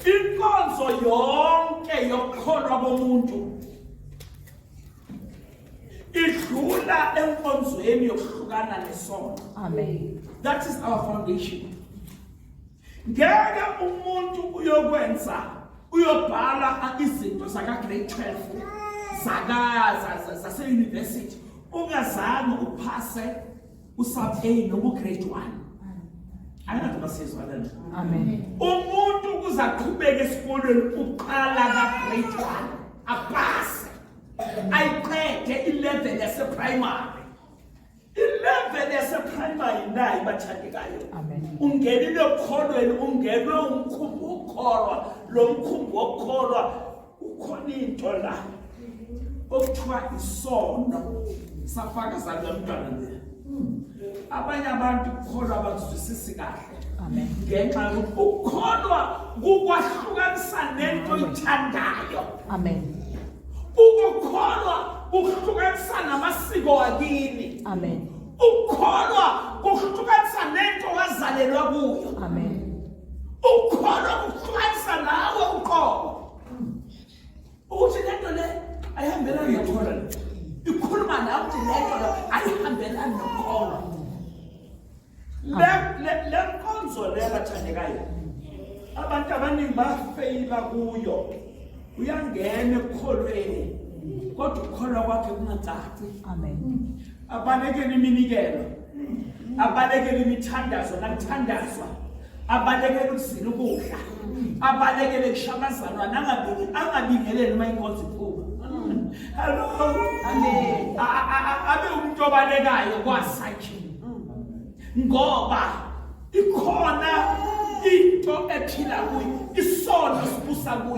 inkonzo yonke yokukholwa komuntu idlula enkonzweni yokuhlukana nesono amen that is our foundation ngeke umuntu uyokwenza uyobhala izinto zaka grade 12 zaka zase university ungazange uphase usapheli nobu grade 1 angathi basizwa lana amen umuntu kuzaqhubeka esikolweni uqala ka grade 1 apase ayiqede ilevel yase primary ilevel yase primary nayi bathandekayo amen ungenile okholweni ungenwe umkhumbi wokukholwa lo mkhumbi wokukholwa ukhona into la okuthiwa isono safaka salamntwana le abanye abantu kukholwa abazwisisi kahle ngenxa yokuthi ukukholwa kukwahlukanisa nento oyithandayo amen ukukholwa kuhlukanisa namasiko akini amen ukukholwa kuhlukanisa nento wazalelwa kuyo amen ukukholwa kuxwayisa nawe uqobo ukuthi lento le ayihambelani nokholwa ikhuluma nawe ukuthi lento le ayihambelani nokholwa le nkonzo le bathandekayo abantu abaningi bafeyila kuyo uyangena ekukholweni kodwa ukukholwa kwakhe kungacaci amen abanekele iminikelo abalekele imithandazo nakuthandazwa abalekele ukuzila ukudla abalekele kushamazalwa nangabingi angabingeleli uma inkonzo iphuma hallo amen abe umuntu obalekayo kwasa nje ngoba ikhona into ephila kuyo isono sibusa kuyo